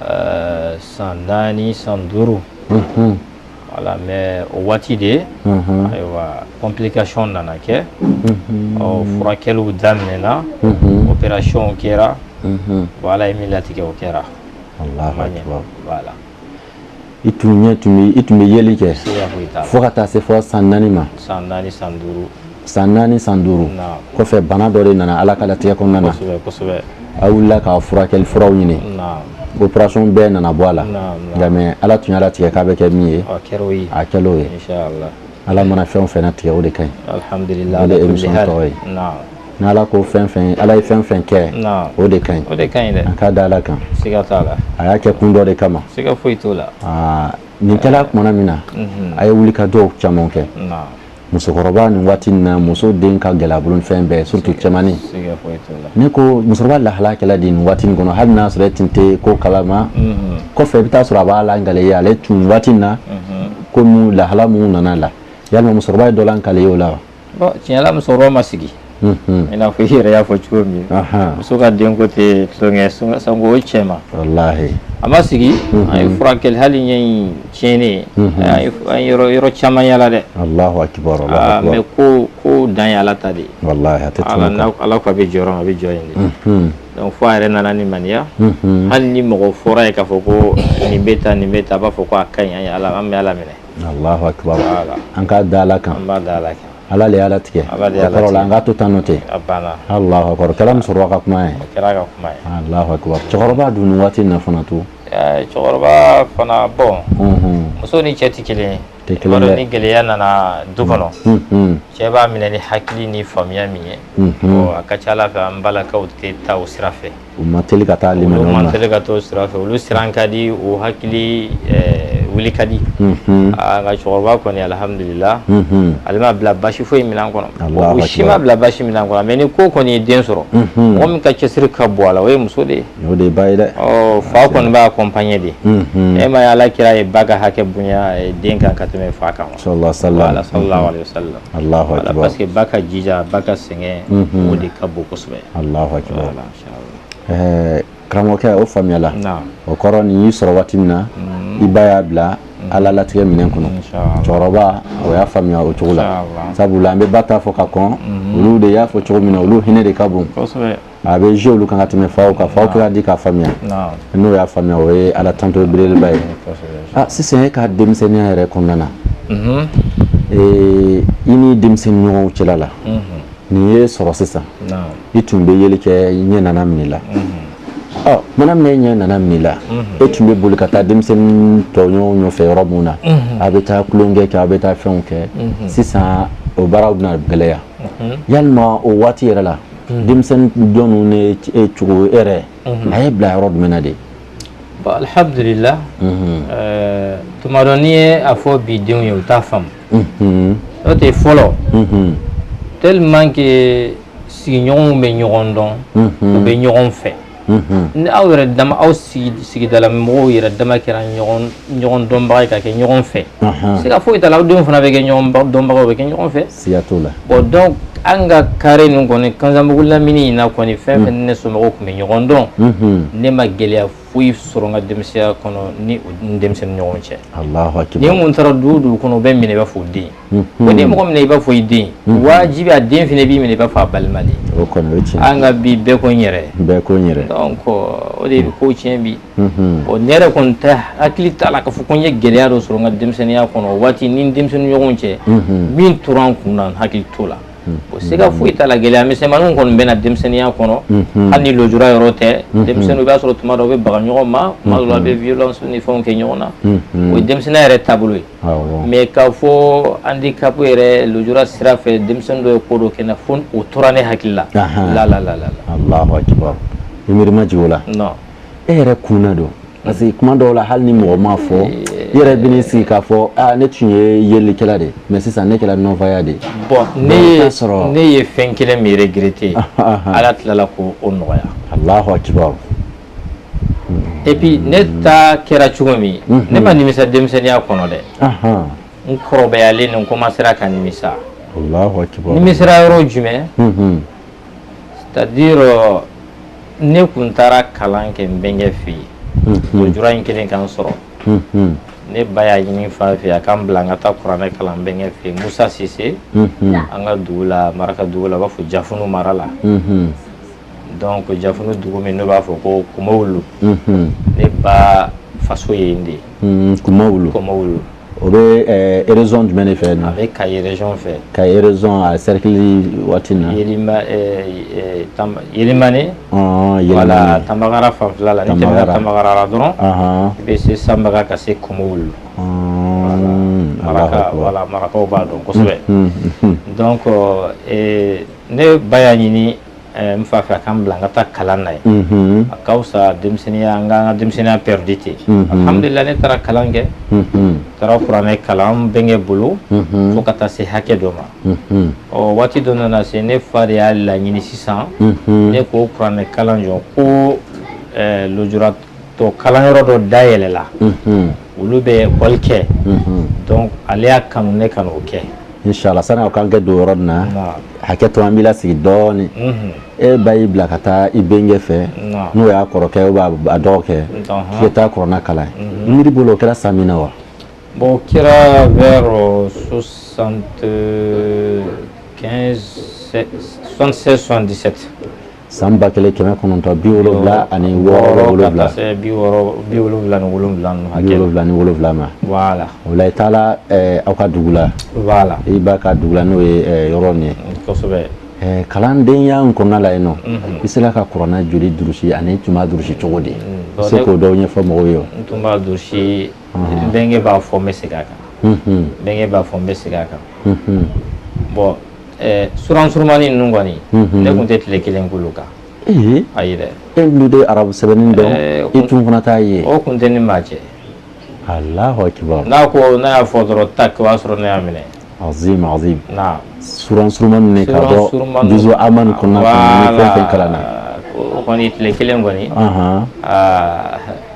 Ɛɛ san naani san duuru voilà mais o waati de ye ayiwa complication nana kɛ ɔ furakɛliw daminɛna opération kɛra bon ala ye min latigɛ o kɛra voilà i tun ɲɛ tun bɛ i tun bɛ yeli kɛ fo ka taa se fɔ san naani ma san naani san duuru san naani san duuru kɔfɛ bana dɔ de nana ala ka latigɛ kɔnɔna na a wulila ka furakɛli furaw ɲini opération bɛɛ nana bɔ a la nka mais ala tun y'a latigɛ k'a bɛ kɛ min ye a kɛra o ye Ala mana fɛn o fɛn latigɛ o de ka ɲi, alhamdulilahi, o de ye émission tɔgɔ ye, naamu, ni Ala ko fɛn o fɛn, Ala ye fɛn o fɛn kɛ, naamu, o de ka ɲi, o de ka ɲi dɛ, an ka da Ala kan, siga t'a la, a y'a kɛ kun dɔ de kama, siga foyi t'o la, aa nin kɛra tuma min na, unhun, a ye wulikajɔw caman kɛ, naamu, musokɔrɔba nin waati in na muso den ka gɛlɛn a bolo ni fɛn bɛɛ ye surtout cɛmannin, siga foyi t'o la, ne ko musokɔrɔba lahala kɛra di nin waati in kɔnɔ hali n'a sɔrɔ e tun tɛ ko kalama, unhun, kɔfɛ i bɛ taa sɔrɔ a b'a lakali i ye ale tun waati in na, unhun ko lahala mun nana a la yala musokɔrɔba ye dɔ lakali i ye o la wa bon tiɲɛ la musokɔrɔba ma sigi i n'a fɔ i yɛrɛ y'a fɔ cogo min muso ka denko tɛ tulon ye sanko o cɛma a ma sigi an ye furakɛli hali ɲɛ in tiɲɛnen an ye yɔrɔ caman yaala dɛ mais ko ko dan ye ala ta de ala ko a bɛ jɔ yɔrɔ min a bɛ jɔ yen de donc fo a yɛrɛ nana limaniya hali ni mɔgɔ fɔra ye k'a fɔ ko nin bɛ tan nin bɛ tan a b'a fɔ ko a ka ɲi ye ala an bɛ ala minɛ an ka da ala kan an b'a da ala kan ala le y'a latigɛ an k'a to tan n'o tɛ o kɛra musokɔrɔba ka kuma ye cɛkɔrɔba dun nin waati in na fana to cɛkɔrɔba fana bon muso ni cɛ tɛ kelen ye Ni gɛlɛya nana du kɔnɔ cɛ b'a minɛ ni hakili ni faamuya min ye a ka ca ala fɛ an balakaw tɛ taa o sira fɛ u man teli ka taa olu man teli ka taa o sira fɛ olu siran ka di o hakili wuli ka di nka cɛkɔrɔba kɔni alihamdulila ale m'a bila basi foyi minɛn kɔnɔ o si m'a bila basi minɛn kɔnɔ mais ni ko kɔni ye den sɔrɔ mɔgɔ min ka cɛsiri ka bon a la o ye muso de ye o de ye ba ye dɛ fa kɔni b'a accompagner de e m'a ye ala kira ye ba ka hakɛ bonya den kan ka tɛmɛ fa kan sallallahu alaihi wasallam parce que ba ka jija ba ka sɛgɛn o de ka bon kosɛbɛ karamɔgɔkɛ o faamuyala o kɔrɔ nin y'i sɔrɔ waati min na i ba y'a bila ala latigɛ minɛn kɔnɔ cɛkɔrɔba o y'a faamuya o cogo la sabula an bɛ ba ta fɔ ka kɔn olu de y'a fɔ cogo min na olu hinɛ de ka bon a bɛ jouer olu kan ka tɛmɛ faw kan faw kɛra di k'a faamuya n'o y'a faamuya o ye ala tanto belebeleba ye ah, sisan e ka denmisɛnninya yɛrɛ kɔnɔna na mhm. eh, i ni denmisɛnnin ɲɔgɔnw cɛla la mhm. nin ye sɔrɔ sisan i tun bɛ yeli kɛ i ɲɛ nana minɛ i la mhm. ah, mana min ɲɛ nana minɛ la e tun bɛ boli ka taa denmisɛnnin tɔɲɔgɔnw nɔfɛ yɔrɔ min na a bɛ taa tulonkɛ kɛ a bɛ taa fɛnw kɛ sisan o baaraw bɛna gɛlɛya yalima o waati yɛrɛ la denmisɛnnin jɔn ne e cogo e yɛrɛ a ye bila yɔrɔ jumɛn na de bon alhamdulillah tuma dɔ n'i ye a fɔ bi denw ye u t'a faamu n'o tɛ fɔlɔ tellement que sigiɲɔgɔnw bɛ ɲɔgɔn dɔn u bɛ ɲɔgɔn fɛ ni aw yɛrɛ dama aw sigidala mɔgɔw yɛrɛ dama kɛra ɲɔgɔn dɔnbagaw ye ka kɛ ɲɔgɔn fɛ siga foyi t'a la aw denw fana bɛ kɛ dɔnbagaw bɛ kɛ ɲɔgɔn fɛ siga t'o la bon donc an ka carré nin kɔni kanzanbugu lamini in na kɔni fɛn fɛn ne somɔgɔw tun bɛ ɲɔgɔn dɔn ne ma gɛlɛya foyi sɔrɔ n ka denmisɛnya kɔnɔ ni denmisɛnnin ɲɔgɔn cɛ ni n taara du o du kɔnɔ u bɛ n minɛ i b'a fɔ u den ko n'i ye mɔgɔ minɛ i b'a fɔ i den wajibi a den fana b'i minɛ i b'a fɔ a balima an ka bi bɛɛ ko n yɛrɛ o de bɛ ko tiɲɛ bi bon ne yɛrɛ kɔni ne hakili t'a la k'a fɔ ko n ye gɛlɛya dɔ sɔrɔ n ka denmisɛnninya kɔnɔ o waati ni denmisɛnnin ɲɔgɔn cɛ min tora n kun n hakili t'o la o siga foyi t'a la gɛlɛya misɛnmannin kɔni bɛ na denmisɛnninya kɔnɔ hali ni lujura yɔrɔ tɛ denmisɛnninw i b'a sɔrɔ tuma dɔ u bɛ baga ɲɔgɔn ma tuma dɔ u bɛ violence ni fɛnw kɛ ɲɔgɔn na o ye denmisɛnninya yɛrɛ taabolo ye mais k'a fɔ handicap yɛrɛ lujura sira fɛ denmisɛn dɔ ye ko dɔ kɛ n na fo o tora ne hakili la allahu akbar i miiri ma jigin o la e yɛrɛ kunna don parce que kuma dɔw la hali ni mɔgɔ m'a fɔ i yɛrɛ bɛn'i sigi k'a fɔ ne tun ye yelikɛla de mais sisan ne kɛra non-voyant de bon ne ye fɛn kelen min regretter ala tilala ko o nɔgɔya et puis ne ta kɛra cogo min mhm. ne ma nimisa denmisɛnninya kɔnɔ dɛ n kɔrɔbayalen ni n commencera ka nimisa nimisira yɔrɔ jumɛn mhm. c'est à dire euh, ne kun taara kalan kɛ n bɛnkɛ fɛ yen mhm. lujura in kɛlen ka n sɔrɔ ne ba y'a ɲini n fa fɛ a k'an bila an ka taa kuranɛ kalan n bɛnkɛ fɛ yen musa sise an ka dugu la maraka dugu la u b'a fɔ jafunu mara la donc jafunu dugu min n'u b'a fɔ ko kumawulu ne ba faso ye yen de ye hmm, kumawulu kumawulu o bɛ région jumɛn de fɛ a bɛ kayi région fɛ kayi région a serikili waati na yelimani wala tanbagara fanfɛla la n'i tɛmɛna tanbagara la dɔrɔn i bɛ se sanbaga ka se kumawulu wala marakaw b'a dɔn kosɛbɛ donc ne ba y'a ɲini N fa fɛ a k'an bila an ka taa kalan na ye a ka fisa denmisɛnninya an ka an ka denmisɛnninya perdu ten alhamdulillahi ne taara kalan kɛ taara kuranɛ kalan n bɛnkɛ bolo fo ka taa se hakɛ dɔ ma o waati dɔ nana se ne fa de y'a laɲini sisan ne k'o kuranɛkalan jɔ ko lujura tɔ kalanyɔrɔ dɔ dayɛlɛla olu bɛ école kɛ donc ale y'a kanu ne ka n'o kɛ inshallah sani aw k'an kɛ don yɔrɔ nin na hakɛ to an b'i la sigi dɔɔnin e ba y'i bila ka taa i bɛnkɛ fɛ n'o y'a kɔrɔkɛ ou bien a dɔgɔkɛ k'i taa kuranɛ kalan i miiri bolo o kɛra san min na wa bon o kɛra vers soixante-seize soixante-dix-sept san ba kelen kɛmɛ kɔnɔntɔn bi wolowula ani ni wolowula ma o i taara aw ka dugu la i ba ka dugu la n'o ye yɔrɔ nin ye kalandenya in kɔnɔna la yen nɔ i sera ka kuranɛ joli durusi ani i tun b'a durusi cogo di i se k'o dɔw ɲɛfɔ mɔgɔw ye n tun b'a durusi n bɛnkɛ b'a fɔ n bɛ segin a kan n bɛnkɛ b'a fɔ n bɛ segin a kan bon Ɛɛ suran surunmani ninnu kɔni ne tun tɛ tile kelen k'olu kan ayi dɛ e tun tɛ arabu sɛbɛnni dɔn e tun fana t'a ye o tun tɛ ni maa cɛ Alahu akibaru n'a ko n'a y'a fɔ dɔrɔn tak o y'a sɔrɔ ne y'a minɛ azim azim na suran surunmanin ka bɔ juzu ama nin kɔnɔna nin fɛn fɛn kalan na o kɔni tile kelen kɔni aa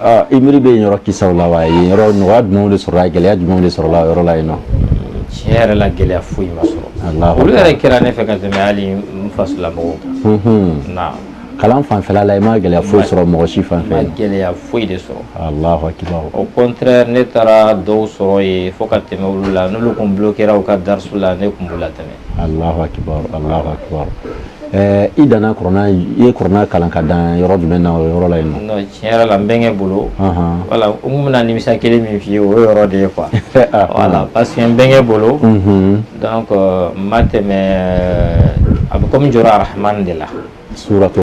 Aa i miiri bɛ yen yɔrɔ kisaw la wa yen yɔrɔ nɔgɔya jumɛnw de sɔrɔla yen, gɛlɛya jumɛnw de sɔrɔla o yɔrɔ la yen nɔ? Tiɲɛ yɛrɛ la gɛlɛya foyi ma sɔrɔ, Alahu akbar, olu yɛrɛ kɛra ne fɛ ka tɛmɛ hali n faso la mɔgɔw kan, unhun, naam, kalan fanfɛla la i ma gɛlɛya foyi sɔrɔ mɔgɔ si fanfɛ, n ma gɛlɛya foyi de sɔrɔ, Alahu akibaru, au contraire ne taara dɔw sɔrɔ yen fo ka tɛmɛ olu la n'olu tun bloquera u ka darasu la ne tun b'u latɛmɛ Alahu akibaru Alahu akibaru ɛɛ i danna kuranɛ i ye kuranɛ kalan ka dan yɔrɔ jumɛn na o yɔrɔ la yen nɔ non tiɲɛ yɛrɛ la n bɛnkɛ bolo anhan voilà n tun bɛna nimisa kelen min f'i ye o ye yɔrɔ de ye quoi ah, voilà parce que n bɛnkɛ bolo unhun donc n ma tɛmɛ a bɛ komi jɔra arahamani de la suratu